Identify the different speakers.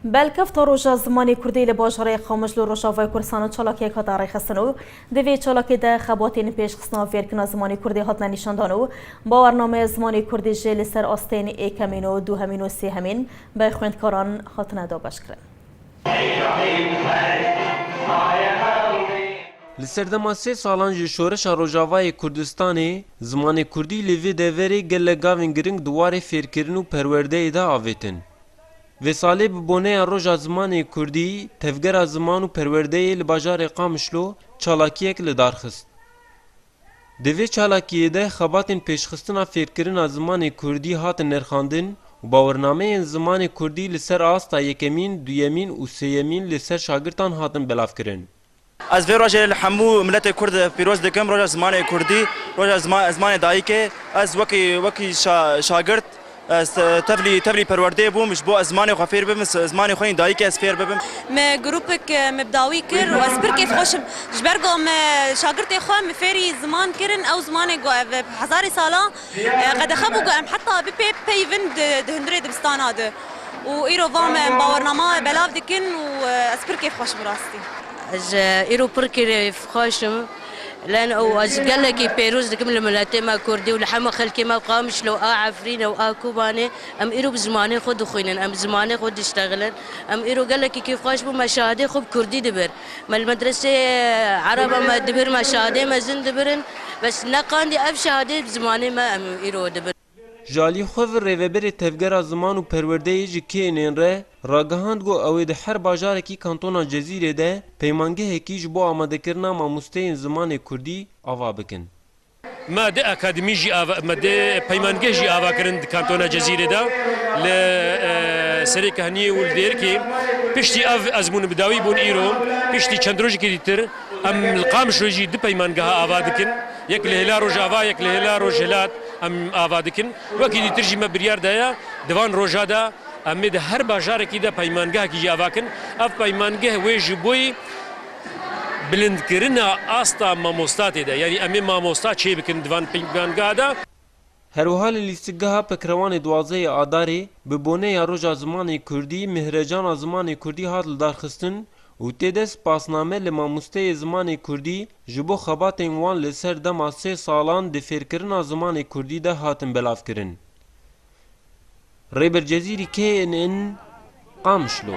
Speaker 1: Belkefta Roja Zimanê Kurdî li bajarê Qamişlo li Rojavayê Kurdistanê çalakiyek hat arêxistin û di vê çalakî de xebatên pêşxistina fêrkirina zimanê Kurdî hatine nîşandan û bawernameya zimanê Kurdî jî li ser astên êkemîn û duhemîn û sêhemîn be xwendkaran hatine dabeşkirin. Li serdema sê salan ji şoreşa Rojavayê Kurdistanê, zimanê Kurdî li vê deverê gelek gavên giring di warê fêrkirin û perwerdeyê de avêtin. Vê salê bi boneya Roja Zimanê Kurdî Tevgera Ziman û Perwerdeyê li bajarê Qamişlo çalakiyek li dar xist. Di vê çalakiyê de xebatên pêşxistina fêrkirina zimanê Kurdî hatin nirxandin û bawernameyên zimanê Kurdî li ser asta yekemîn, duyemîn û sêyemîn li ser şagirtan hatin belavkirin. Ez vê rojê li hemû miletê kurd pîroz dikim, roja zimanê kurdî, roja zimanê dayikê. Ez wekî wekî şagirt tevlî tevlî perwerdê bûm ji bo ez zimanê xwe fêr bibim, zimanê xwe yên dayikê ez fêr bibim. Me grûpek me bi dawî kir û ez pir kêf xweş im. Ji ber ku me şagirtê xwe me fêrî ziman kirin, ew zimanê ku ev hezarê salan, Qedexe bû ku em heta bi pê peyvin di hundirê dibistana de û îro va me em bawernama belav dikin û ez pir kêfxweş im rastî. Ez îro pir kêfxweş im len û ez gelekî pêroz dikim li miletê me kurdî û li hemû xelkê me Qamişlo û a Efrînê û a Kobanê em îro bi zimanê xwe dixwînin em bi zimanê xwe diştexilin em îro gelekî kêfxweş bûm me şahidê xwe bi kurdî dibir Me li medreseyê ereba me dibir me şadê mezin dibirin bes neqandî ev şadê bi zimanê me em îro dibin. Ji alî xwe ve Rêveberê Tevgera Ziman û Perwerdeyê ji KNN re ragihand got ew ê di her bajarekî kantona Cezîrê de peymangehekî ji bo amadekirina mamosteyên zimanê kurdî ava bikin. Me dê akademî jî ava me dê peymangeh jî ava kirin di kantona Cezîrê de li Serê Kehniyê û li Dêrikê. Piştî ev ezmûn bi dawî bûn îro piştî çend rojekî dîtir em li Qamişlo jî du peymangeha ava dikin. Yek li hêla Rojava yek li hêla Rojhilat em ava dikin. Wekî dîtir jî me biryar daye di van roja de em ê di her bajarekî de peymangehekî jî ava kin. Ev peymangeh wê ji bo yî Bilindkirina asta mamosta tê de. Yanî em ê mamosta çê bikin di van pingvangeha de. Her wiha li Lîstikgeha Pekrewanê duwazdehê Adarê bi bone ya Roja Zimanê Kurdî Mihrejana Zimanê Kurdî hat lidarxistin û tê de spasname li mamosteyê zimanê Kurdî ji bo xebatên wan li ser dema sê salan di fêrkirina zimanê Kurdî de hatin belavkirin. Rêber Cezîrî kê in in Qamişlo.